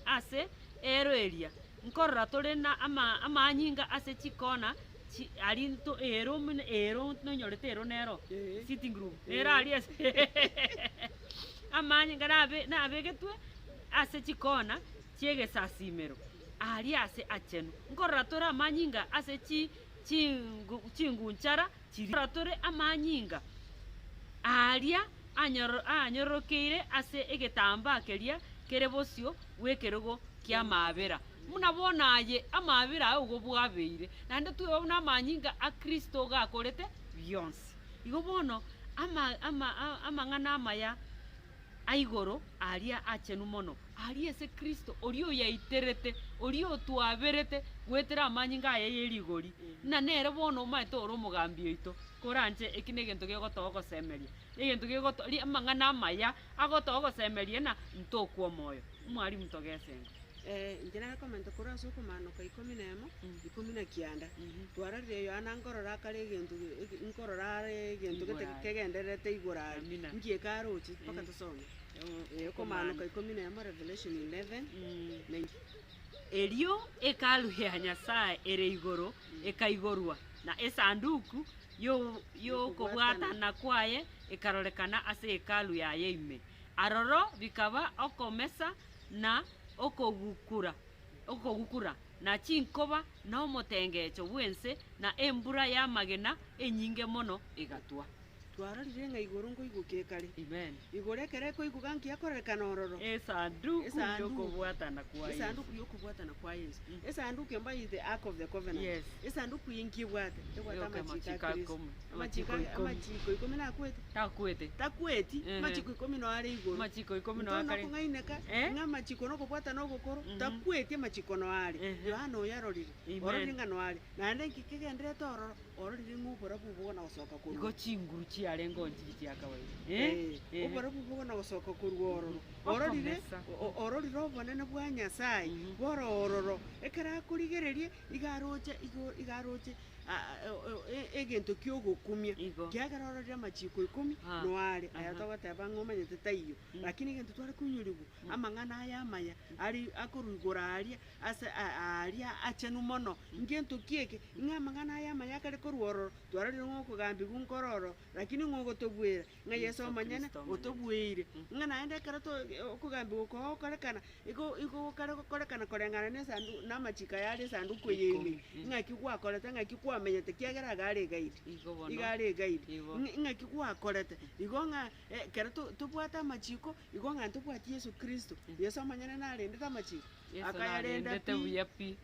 ase eero eria, nkorora tore na amaanyinga ase chikona chi aria into eero buna eero nonyorete eero nero sitting room nero aria ase amaanyinga nabe nabegetwe ase chikona chi'egesasimero aria ase achenu. Nkorora tore amaanyinga ase chi chingu chingunchara. chiriara tore amanyinga aaria aanyororokeire ase egetambaa keria kere bosio bw'ekerogo ki'amaabera, buna bono aye amaabera ao igo bwabeire, naende tweba buna amanyinga a Kristo gakorete bionsi. Igo bono amang'ana amaya. aigoro aria achenu mono, aria ase Kristo, oria oyaiterete, oria otwaberete goetera amanyinga aye ye rigori, ng'a nere bono omaete ore omogambi oito, koranche eki negento gegotoa ogosemeria, negento gegotoa ri amang'ana amaya agotoa ogosemeria ng'a ntokwa omoyo. Mwarimu togesenga. Enchera y'ekomenta korwa ase okomanoka ikomi na emo, ikomi na kianda. Twarorire Yohana nkorora akare egento eke- nkorora are egento gete Igoro are. kegendererete igoro are. Amina. Nki eke aroche? Mpaka tosome. Eh, Okomanoka ikomi na emo, Revelation 11, na inki? Erio Hekalu ya Nyasae ere igoro ekaigorwa, na Esanduku y'o- y'okobwatana kwaye ekarorekana ase Hekalu yaye ime. Aroro bikaba okomesa na okogukura, okogukura, na chinkoba, na omotengecho bw'ense, na embura y'amagena enyinge mono egatwa. Twarorire ng'a igoro nkoigukia ekare. Amen. Igoro ekero ekoiguka nkiakorerekana ororo. Esanduku Esanduku. y'okobwatana kwa Esanduku Yesu. y'okobwatana kwa Yesu. Esanduku embaite Ark of the Covenant. Yes. Esanduku eye nkibwate, ebwate Eyoka amachiko a amachiko Kristo. akomu. Amachiko Amachiko ikomi. amachiko ikomi nakwete Takwete. takweti Ehe. amachiko ikomi no are igoro Amachiko ikomi no Ntoo akare. nokong'aineka Eh? ng'a amachiko nokobwatana ogokoro Mhm. takweti amachiko no are Ehe. Yohana oyarorire Amen. ororire ng'a no are naende inki kegendererete ororo ororire ng'a oborabu obo bogana gosoka korwa Igo chinguru chiarenge oo nchiria chia kawaida. Eh, Eh? oborabu obo bogana gosoka korwa ororo Mhm. ororire Okomesa. o- o- ororire obonene bwa nyasaye Mhm. bore ororo ekero akorigereria iga aroche igoro iga aroche egento ki'ogokumia. Igo. Kiagera ororire amachiiko ikomi Ah. no aare, aya Aha. togoteba ng'a omanyete taiyo, lakini egento tware koinyurigwa amang'ana aya amaya are akorwa igoro aria ase a- aria achenu mono. Ngento ki eke? Ng'a amang'ana aya amaya akare korwa ororo twarorire ng'a okogambigwa nkore ororo. Naki ning'o ogotobwera ng'a Yeso omonyene otobweire, ng'a naende ekero to okogambigwa oko gokorekana, igo igo gokare gokorekana koreng'ana na esanduku na amachiko aya are esanduku eye ime, ng'aki gwakorete ng'aki kwamenyete kiagera iga are egaidi, Igo bono. iga are egaidi. Igo. Ng'a- ng'aki gwakorete igo ng'a ekero to- tobwate amachiko, igo ng'a ntobwati Yeso Kristo, Yeso omonyene narendete amachiko, Yeso akayarenda narendete pi. buya pi.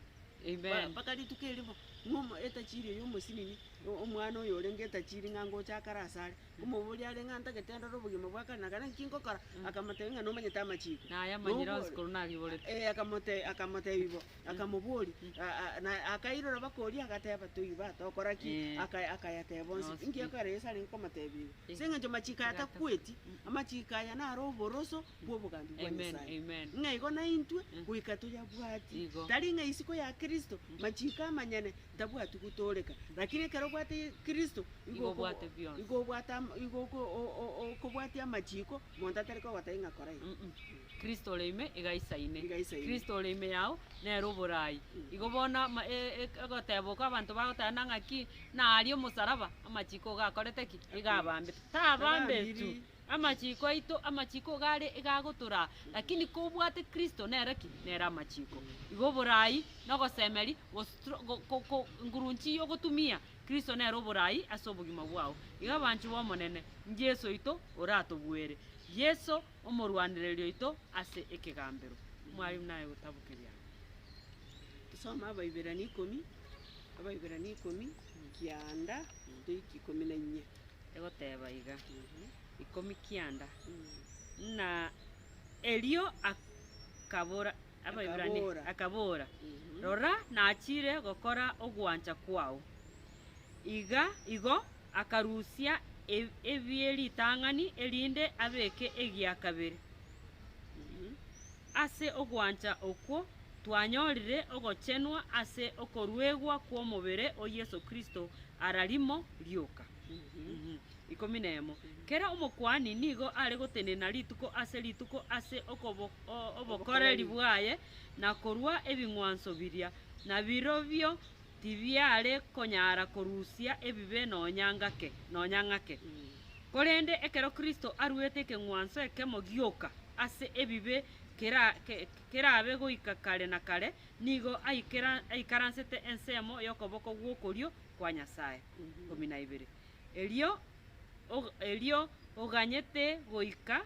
Ba- Amen. mpaka rituko erimo, ng'omo etachirio ya omosinini Omwana oyo orenge etachiri ng'a ngocha akare asare, nkomoboria are ng'a ntagete ndore obogima bwa kare na kare naki nkokora, akamotebia ng'a nomanyete amachiko. Na ayamanyire Nobwo- onsi korwa nagiborete. Eh, akamote- akamotebia bo, akamoboria, a- a- na akairora bakoria agateba toiba, tokora ki? Eh. Aka- akayateba onsi. Onsi Inki pi. ekero Yeso are komotebia igo? Eh. Ase eng'encho amachiko aya Tigatakwa. takweti, amachiko aya nare oboroso bw'obogambi bwa Amen, Nyasaye. amen. Ng'a igo naintwe goika toyabwati. Igo. Tari ng'a isiko ya Kristo, machiko amanyene, Tabwati gotooreka, lakini ekero obwate Kristo, igo Igo obwate bionsi. igo obwate am- igo oko- o- o- o- okobwatia amachiiko, monto atari kogotebia ng'a kora eye. Mm-mm. Kristo ore ime iga aisaine. Iga aisaine. Kristo ore ime yao nere oboraai. Igo bono ama- e- e- egoteba okwo abanto bagotebana ng'a ki, na aria omosaraba, amachiiko iga akorete ki? Iga abambete. Tabaambetu. Tabambiri. Amachiiko aito, amachiiko iga are iga agotoraa, lakini kobwate Kristo nere ki? Nere amachiiko. Igo oboraai, na ogosemeri, gos- Ngurunchi y'ogotumia Kristo nere oboraai ase obogima bwao. Igo abanchwa b'Omonene, n'Yeso oito oratobuere. Yeso omorwanereria oito ase ekegambero. Mwarimu naye gotabu keria. Tosome Abaiberania ikomi, Abaiberania ikomi, kianda toiki ikomi na inye. Egoteba iga, ikomi kianda, Na erio akabora. Abaebrania, akabora, Rora, nachiire gokora ogwancha kwao. Iga igo akarusia ebie ritang'ani erinde abeke egia kabere. Ase ogwancha okwo twanyorire ogochenwa ase okoruegwa kw'omobere o Yeso Kristo ara rimo rioka. ikomi nemo. Kera omokuani nigo are gotenena rituko ase rituko ase obokoreri bwaye na korua ebing'wanso biria, na birobio tibiare konyara korusia ebibe nonya ng'ake nonya ng'ake. Korende ekero Kristo aruete ekeng'wanso ekemo gioka ase ebibe kerabe goika kare na kare, nigo aikaransete ensemo y'okoboko gw'okorio kwa Nyasae. Ikomi na ibere. erio og- erio oganyete goika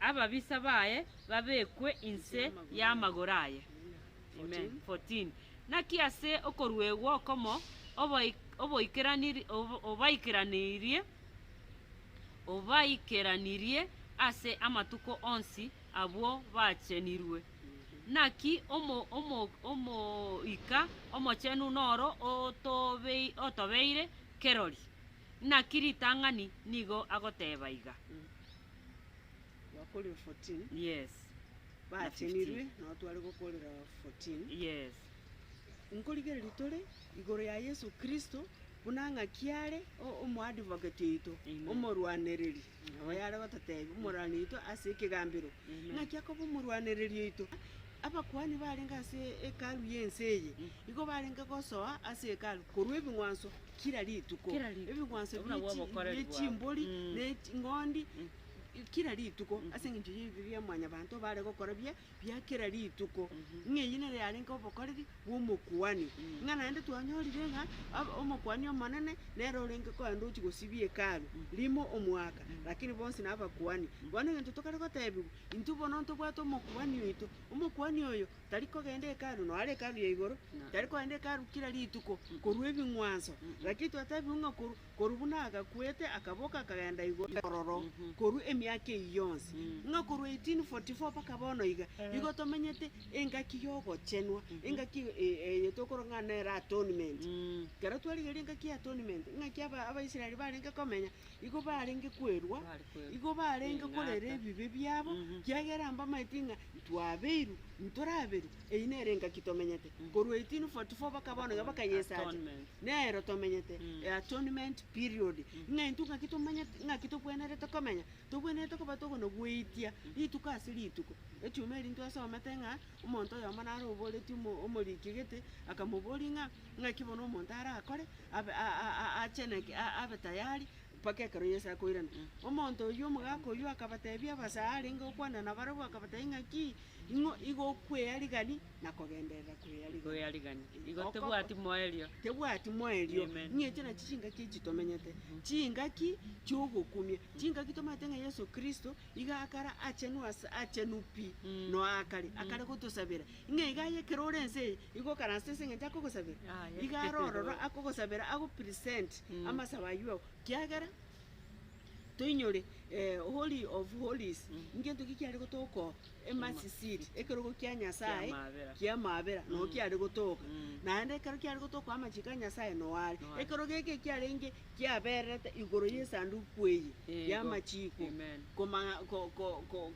ababisa baye babekwe inse y'amagoro aye. Amen. 14. Naki ase okoruegwa okomo oboi- oboikeraniri- ob- obaikeranirie obaikeranirie ase amatuko onsi abwo bachenirwe. Naki omo- omo- omoika omochenu noro otobei- otobeire Kerori, naki ritang'ani nigo agoteeba iga. Bakorire 14. Yes. Na 15. Baatenirwe, nao tware gokorera 14. Yes. Nkorigereria tore igoro ya Yesu Kristo, buna ng'aki are o- omoadvocate oito, Amen. omorwanereri Oyo are gototeebia, Omorwani oito ase ekegambero, naki akoba omorwanereria oito. Abakuani barenge ase Hekalu y'ense eye nigo barenge gosoa ase Hekalu korwa ebing'wanso kera rituko, Kera rituko. ebing'wanso Obuna bie chi- bw'obokoreri bie bwabo. chimbori Mm. ne ching'ondi kera rituko ase eng'encho y'ebibe bia Mwanyabaanto bare gokora buya bia kera rituko, ng'a eyio nere yarenge obokoreri bw'omokuani, ng'a naende twanyorire ng'a ab- Omokuani Omonene nere orenge korende ochia gosibia Hekalu rimo omwaka, lakini bonsi nabakuani. Bono egento tokare gotebigwa, intwe bono ntobwate omokuani oito, omokuani oyo tari kogenda Hekalu, noyo are Hekalu ya igoro, tari kogenda Hekalu kera rituko korwa ebing'wanso, lakini twatebigwe ng'a korwa Korwa buna agakwete akaboka akagenda igoro ororo korwa emiaka eyio yonsi, ng'a korwa 1844 mpaka bono iga, igo tomenyete engaki y'ogochenwa, engaki eye tokoro ng'a nere atonement. Ekero twarigeria engaki y'atonement, ng'aki aba- Abaisraeli barenge komenya, igo barenge kwerwa, Bari kwerwa. igo barenge korera Ing'ata. ebibe biabo, kiagera mbamaeti ng'a ntwabeirwe, ntoraberwe, Eyio nero engaki tomenyete korwa 1844 baka bono iga bakayesacha. Nero tomenyete e atonement period. Ng'a intwe ngaki tomanyete ngaki tokwenerete komenya, tokwenerete koba tokona goitia rituko ase rituko. Echuma eri ntwesomete ng'a omonto oyomo naro oboreti omo omoriki egete akamobori ng'a ng'aki bono omonto arakore abe a- a- a- acheneke a- abe tayari mpaka ekero Yeso akoirana. Omonto oyio omogaka oyio akabatebia abasare arenge okwana nabarabwo akabatebi ng'aki Ing'o igokwea rigani na kogenderera kwea rigani? Kwea rigani. Igo Okoko. tebwati moerio. Tebwati moerio. Amen. Ng'eche nachi chingaki echi tomenyete. Chingaki chiogokumia. Chingaki tomanyete ng'a Yeso Kristo iga akare achenu ase achenu pi noa akare. Akare gotosabera. Ng'a iga aye ekero ore ense eye igo okaranse ase eng'encho akogosabera. Aye. Iga are ororo akogosabera ago present amasabo ayio kiagera. Toinyore Holy of Holies, ngento ki kiare gotoka oo? Emasi seat, ekerogo kia Nyasae kia maabera noo kiare gotoka. Naende ekero kiare gotoka amachiko a Nyasae noo are. Ekerogo eke ekiarenge kiabererete igoro y'esanduku eye y'amachiko,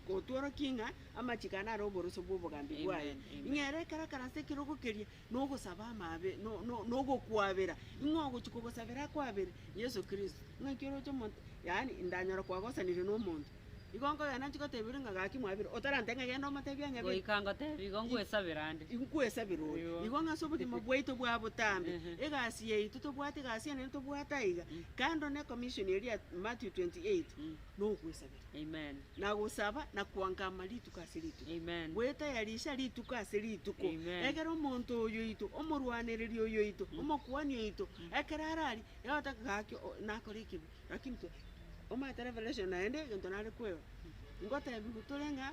kotworokia ng'a amachiko aya nare oboroso bw'obogambi bwaye. Ing'ee ere ekero akarase ekerogo keria, nogosaba amabe, no- no- nogokwabera, ing'o ogochia kogosabera akwabere? Yeso Kristo. Ng'aki oroche omonto, yaani ndanyora kwagosanire na omonto, igo nkogenda nanchi goteberia ng'a gaki mwabire, otarantee ng'a genda omotebie ang'e biri, Goika ngotebie igo nkwesabera ande. inkwesabera oyo. Igo. Igo ng'ase obogima bwaito bwa botambe, Ehe. egasi yaito tobwate egasi enene tobwate aiga, kando ne commission eria ya Matthew 28, nogwesabera. Amen. Nagosaba na koangama rituko ase rituko. Amen. Gwetayarisha rituko ase rituko. Amen. Ekero omonto oyo oito, omorwanereri oyo oito, omokuani oito, ekero ararie, egotaka gaki o- nakore ekibe, lakini to- omanyete revelation naende egento nare kwerora. Ngotebiwe tore ng'a.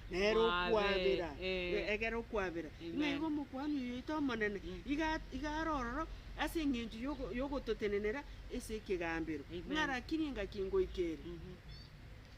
Nere okwabera, egera okwabera. Ng'a igo Omokuani oyoito Omonene iga iga are ororo ase engencho yogo yogototenenera ase ekegambero, ng'a rakiri engaki ngoika ere,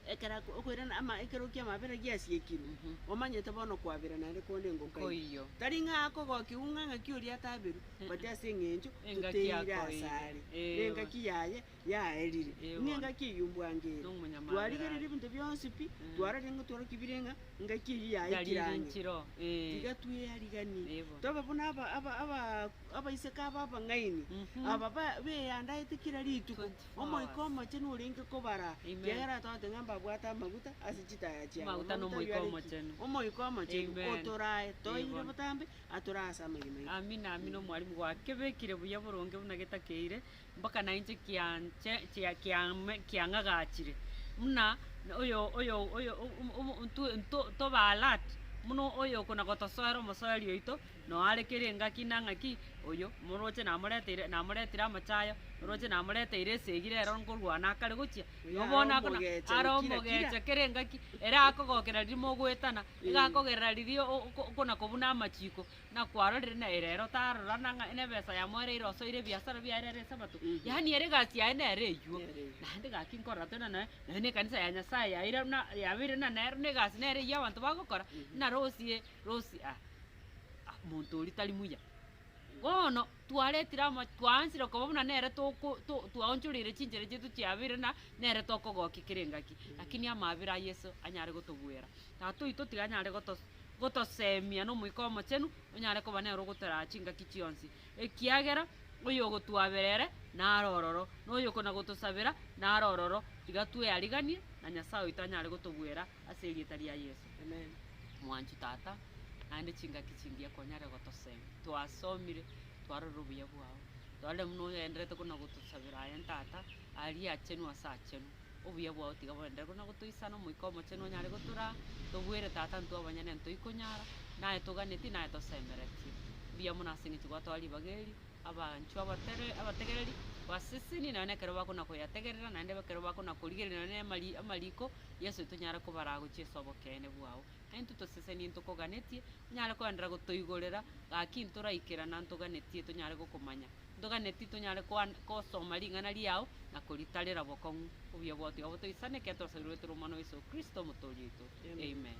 ekero ako okoirana ama ekero ki'amabera giasiekirwe, omanyete bono kwabera naende konde ngokaiyo. Tari ng'a akogokiwu ng'a ng'aki oria ataberwe, but ase engencho toteire asare, ne engaki yaye. yaerire, ning'engaki eyio mbwangere. Twarigereria ebinto bionsi pi, twarorire ng'a tware ki bire ng'a engaki eyio yaikire ang'e. Tiga tweyariganie, tobe buna abaiseke aba abang'aini, aba beyandaete kera rituko Omoika Omochenu orenge kobara, ekiagera togoteba ng'a mbabwate amaguta ase chitaya chiabo. Amaguta n'Omoika Omochenu. Omoika Omochenu otorae, toeire botambe, atorae ase amagena aito. Amina, amina, omwalimu. Gwakebekire buya boronge buna getakeire, mpaka nainche kianche kia- kiame- kiang'agachire, buna oyo oyo oyo o- o- omo ntwe nto tobe alert, buna oyo kona gotosoera omosoeri oito, noo are kera engaki na ng'aki, oyo moroche namoreteire namoretire amachayo, oroche namoreteire esegi rero nkorwana akare gochia, Oyo nabo bono are akona omogecha are kira kira. omogecha kera engaki, ere akogokera riria mogoetana, iga akogerera riria o- o- okona kobuna amachiko. na kwarorire na ere ero tarora na ng'a nebesa yamo ere irosoire ebiasara biaye nere esabato, yaani ere egasi yaye nere eywo. Naende gaki nkorora tena naye, naye na ekanisa ya Nyasaye yaira buna yabeire buna nero na egasi nere eywo abanto bagokora, buna rosie rosie ah monto oria tari muya. Bono twaretire ama twaanchire koba buna nere toko to twaonchoreire chinchera chiaito chiabeire buna nere tokogokia kera engaki, lakini amaabera a Yeso anyare gotobuera. Tata oito tiganyare gotosemia n'Omoika Omochenu onyare koba nere ogotoraa chingaki chionsi, ekiagera oyogotwaabera ere nare ororo, na oyokonagotosabera nare ororo, tiga tweariganie na Nyasae oito anyare gotobwera ase erieta ria Yeso. Mwanchi Tata, naende chingaki chingiya konyare gotosemia. Twasomire, twarorire obuya bwao, twarorire buna ogenderete konagotosabera aye Tata, aria achenu ase achenu. obuya bwao tiga borenderere, korende gotoisana Omoika Omochenu onyare gotoraa, tobuere Tata intwe abanyene nere toikonyara, naye toganetie, naye tosemeretie. Mbuya mono ase eng'encho gwatoa ribaga eri, abanchwa abatere abategereri, baseseni nonya na ekero bakona koyategerera, naende ekero bakona korigereria nonya na amari amariko, Yeso tonyare kobaraa gochia ase obokeene bwao. Aye intwe toseseni ntokoganetie, onyare koenderera gotoigorera gaki ntoraikerana ntoganetie tonyare gokomanya. ntoganeti tonyare koan- kosoma ring'ana riao na koritarera bokong'u. Obuya bwao tiga botoisane, ekiagera twasabiroetwe ore Omwana o Yeso Kristo, Omotooria oito. Amen.